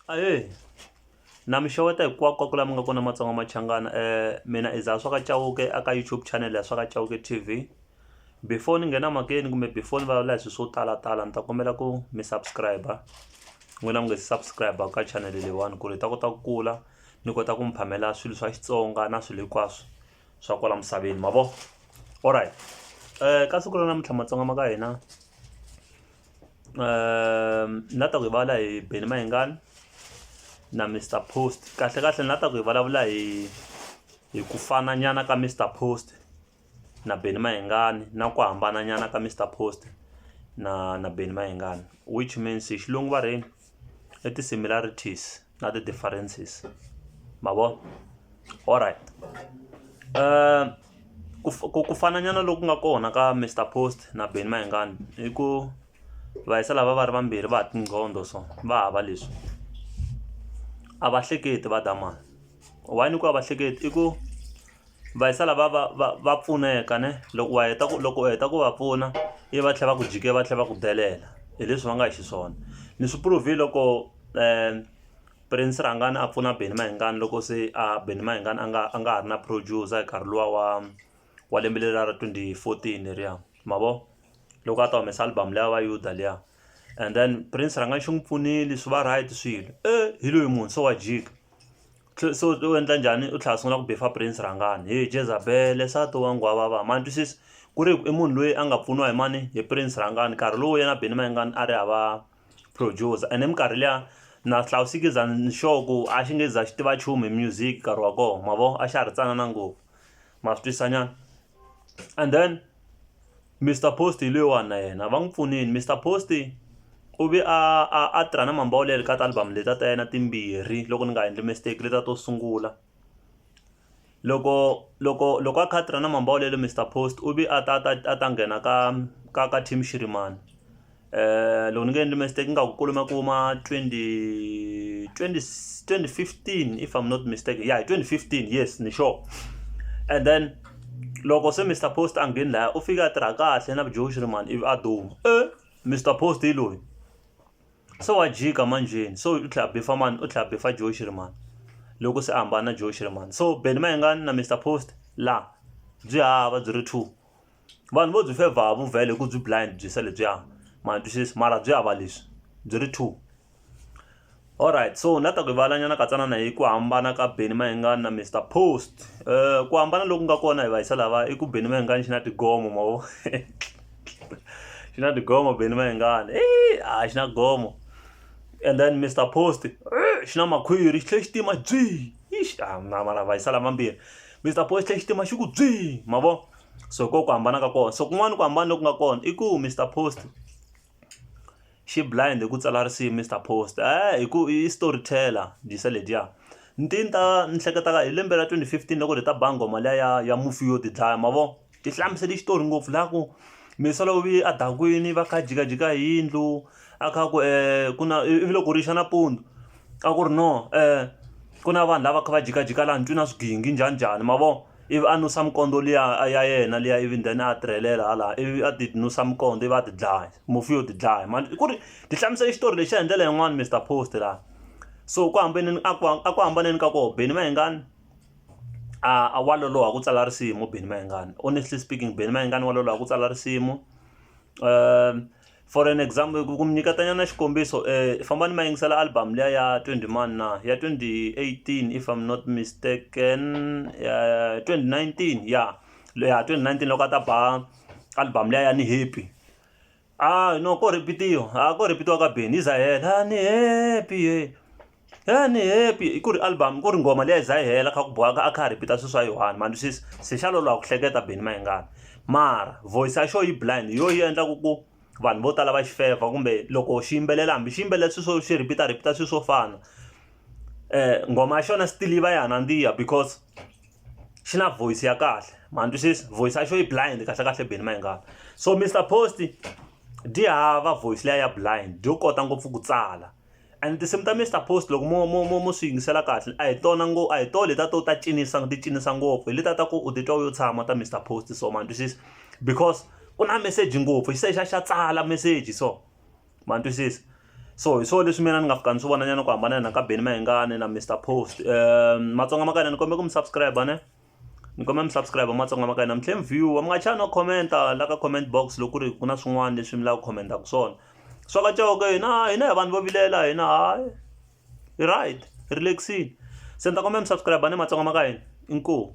Ahee na mi xeweta hinkwako laha mi nga kona Matsonga Machangana mina i Zahaswa ka Chauke a ka YouTube channel ya Swa ka Chauke T_V before ni nghena makeni kumbe before ni vulavula hi swilo swo talatala ni ta kombela ku mi subscribe n'wina mi nga se subscribe ka channel leyiwani ku ri hi ta kota ku kula ni kota ku mi phamela swilo swa Xitsonga na swilo hinkwaswo swa kwala misaveni ma vo alright ka siku ra namuntlha Matsonga ma ka hina ni la ta ku hi vulavula hi Benny Mayengani na Mister Post kahle kahle ni la ta ku hi vulavula hi hi ku fana nyana ka Mister Post na Benny Mayengani na ku hambana nyana ka Mister Post na na Benny Mayengani which means hi xilungu va rhe yini. i ti-similarities na ti-differences ma vo alright ku ku ku fana nyana loku nga kona ka Mister Post na Benny Mayengani i ku va hisa lava va ri vambirhi va ha tinqondo so va hava leswi a va hleketi va dya mali why ni ku a va hleketi i ku. va yi sala va va va va pfuneka ne loko wa heta ku loko u heta ku va pfuna i va tlhela va ku jike va tlhela va ku delela hi leswi va nga hi xiswona ni swi prove-i loko prince rhangani a pfuna benny mayengani loko se a benny mayengani a nga a nga ha ri na producer hi nkarhi luwa wa wa lembe leri ra twenty fourteen leriya ma vo loko a ta humesa album leyi ya va yuda liya and then prince rhangani xi n'wi pfunile swi va right swilo e hi loyi munhu se wa jika se u endla njhani u tlhela a sungula ku beefer prince rhangani he jezabele nsati wa nghwavava ma ni twisisa ku ri i munhu loyi a nga pfuniwa hi mani hi prince rhangani nkarhi lowu yena Benny Mayengani a ri hava producer ene minkarhi liya na ni sure ku a xi nge za xi tiva nchumu hi music nkarhi wa kona ma vo a xa ha ri tsanana ngopfu ma swi twisisa nyana and then. Mister Post hi loyiwani na yena va n'wi pfunile Mister Post u ve a a a tirha na Mambawulele ka ti-album letiya ta yena timbirhi loko ni nga endli mistake letiya to sungula loko loko loko a kha a tirha na Mambawulele Mister Post u ve a ta ta a ta nghena ka ka ka Team Shirimani eh loko ni nga endli mistake ingaku ku lume ku ma 20 2015 if i'm not mistaken yeah 2015 yes ni sure and then loko se mr post a ngheni laya u fike a tirha kahle na vujoxi ri mani ivi a duma e eh, mr post hi loyi se wa jika manjheni so u tlhela bifa mani u tlhela bifa joxi ri mani loko se a hambana na joxi ri mani so beni mayengani na mr post laha byi hava byi ri two vanhu vo byi fevha ha vuvhele hi ku byi blind byi se lebyiya ma ni twisisi mara byi hava leswi byi ri two alright so na ta ku valanyana katsanana hi ku hambana ka beni mayengani na mr post um ku hambana loku nga kona hi vayisa lava i ku beni mayengani xi na tigomo mavo xi na tigomo beni mayengani e a xi na gomo and then mr post xi na makhwiri xi tlhe xi tima byi ixi a mara vayisa lava mambirhi mr post xi tlhe xi tima xi ku byi mavo so ko ku hambana ka kona so kun'wana ku hambana loku nga kona i ku Mister Post xi blind hi ku tsala risimu Mister Post eh hi ku i story teller dyisa ledyiya ni ti ni ta ni hleketaka hi lembe ra twenty fifteen loko hi ta ba nghoma liya ya ya mufi yo tidlaya ma vo ti hlamusele xitori ngopfu laha ku misolo vi a dakwini va kha jikajika hi yindlu a kha ku um ku na ivi loko rixa nampundzu a ku ri no um ku na vanhu lava kha va jikajika laha ni twi na swigingi njhani njhani ma vo ivi a nusa minkondzo liya ya yena liya ivi then a tirhelela hala ivi a ti nusa minkondzo ivi a ti dlaya mufi yo ti dlaya mani ku ri ti hlamusela xitori lexiya hi ndlela yin'wani Mister Post laha so ku hambaneni a ku a ku hambaneni ka koho Benny Mayengani a wa loloha ku tsala risimu Benny Mayengani honestly speaking Benny Mayengani wa loloha ku tsala risimu . for an example ku mi nyiketanyana xikombiso um famba ni ma yingisela album liya ya twenty mani na ya twenty eighteen if im not mistaken ya twenty nineteen ya ya twenty nineteen loko a ta ba album liya ya ni happy a no ko rhipitiwa a ko rhipitiwa ka beni yi za hela a ni happy . He ni happy hi ku ri album ku ri nghoma leyi a yi za yi hela kha ku bohaka a kha a repeat-a swilo swa yi one ma ni twisisa se xa loloha ku hleketa Benny Mayengani mara voice ya xo yi blind hi yo yi endlaku ku vanhu vo tala va xi fevha kumbe loko xi yimbelela hambi xi yimbelela swilo swo xi repeat-a repeat-a swilo swo fana nghoma ya xona still yi va ya ha nandziha because xi na voice ya kahle ma ni twisisa voice ya xo yi blind kahle kahle Benny Mayengani so Mister Post-i dyi hava voice liya ya blind yo kota ngopfu ku tsala. And tinsimu ta Mister Post loko mo mo mo mo swi yingisela kahle a hi tona ngo a hi tona letiya to ta cinisa ti cinisa ngopfu hi letiya ta ku u titwa u yo tshama ta Mister Post so ma ni twisisa because ku na meseji ngopfu xi tlhela xi ya xi ya tsala meseji so ma ni twisisa so hi swona leswi mina ni nga fika ni swi vonanyana ku hambana na ka Benny Mayengani na Mister Post Matsonga ma ka hina ni kombela ku mi subscribe ne. ni kombela mi subscribe matsonga ma ka hina mi tlhe mi viewer mi nga chani no commenta la ka comment box loko ku ri ku na swin'wana leswi mi lava ku commentaku swona swa ka coke hina hina hi vanhu vo vilela hina hayi hi right hi relaxile se ni ta kombela mi subscribe ni matsonga ma ka hina inkomu